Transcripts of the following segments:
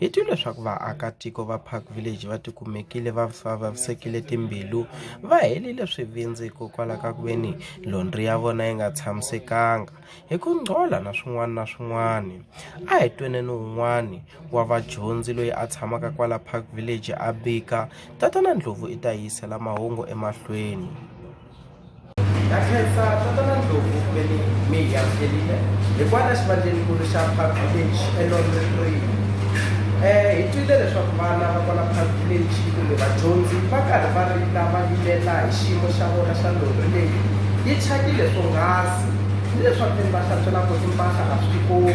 Hi twi leswaku vaakatiko va Park Village va tikumekile va vavisekile timbilu va helile swivindzi hikokwalaho ka ku ve ni londri ya vona yi nga tshamisekanga hi ku ngcola na swin'wana na swin'wana a hi twene ni wun'wani wa vadyondzi loyi a tshamaka kwala Park Village a bika tatana Ndlopfu i ta yisela mahungu emahlweni. Na khensa tatana Ndlovu ve ni mi hi amukelile hikwalaho xivandlenikulu xa Park Village eLondon Green. Eh, hi twile leswaku vana va kwala Park Village kumbe vadyondzi va karhi va rila va vilela hi xiyimo xa vona xa lori leyi yi thyakile swonghasi ni leswaku ve ni va hlantswela koti mpahla a swi tikombi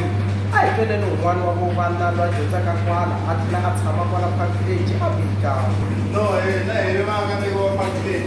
a hi twele ni un'wana wa vo vana loyi a dyondzaka kwala a tlhela a tshama kwala Park Village a vika No, eh, na hi ri vaakatiko va Park Village,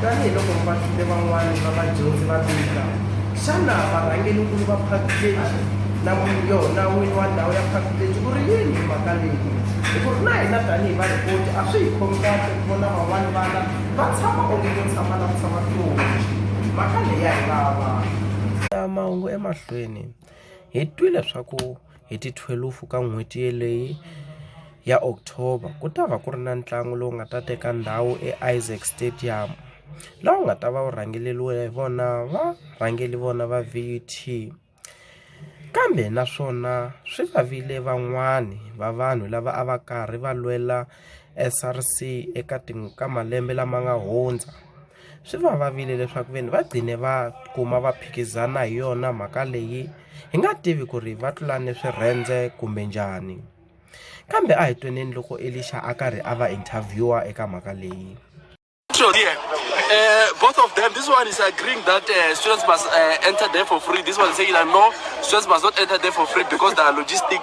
Tanihi loko vahlule van'wana va vadyondzi va vika, xana varhangerinkulu va phakileji na yona n'wini wa ndhawu ya phakileji u ri yini hi mhaka leyi? Hikuva na hina tanihi varhipoti a swi hi khomi kahle ku vona van'wana vana va tshama onge ko tshama na ku tshama tihonci. Mhaka leyi ya hi vava. Mahungu emahlweni, hi twi leswaku. hi ti 12 ka n'hweti yeleyi ya October ku ta va ku ri na ntlangu lowu nga ta teka ndhawu eIsaac Stadium laha wu nga ta va wu rhangeleriwe hi vona va rhangeli vona va VUT kambe naswona swi vavile van'wani va vanhu lava a va karhi va lwela SRC eka ka malembe lama nga hundza. Swi va vavile leswaku ve ni va gcine va kuma va phikizana hi yona mhaka leyi hi nga tivi ku ri va tlulane swirhendze kumbe njhani kambe a hi tweneni loko Elixa a karhi a va interviewer eka mhaka leyi here. Uh, both of them, this one is agreeing that uh, students must uh, enter there for free. This one is saying that no, students must not enter there for free because there are logistic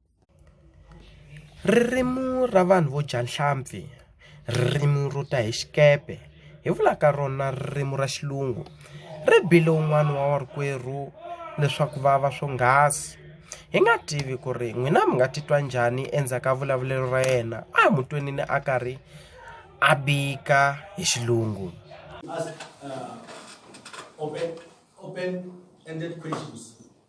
Ririmi ra vanhu vo dya nhlampfi, ririmi ro ta hi xikepe, hi vulaka rona ririmi ra xilungu, ri bile un'wana wa vakwerhu leswaku va va swonghasi. Hi nga tivi ku ri n'wina mi nga titwa njhani endzhaku ka vulavulelo ra yena, a hi n'wi twanini a karhi a bika hi xilungu.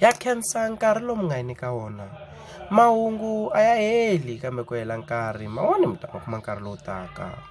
ya khensa nkarhi lowu mi nga hi nyika wona mahungu a ya heli kambe ku hela nkarhi mawani mi ta ma kuma nkarhi lowu taka.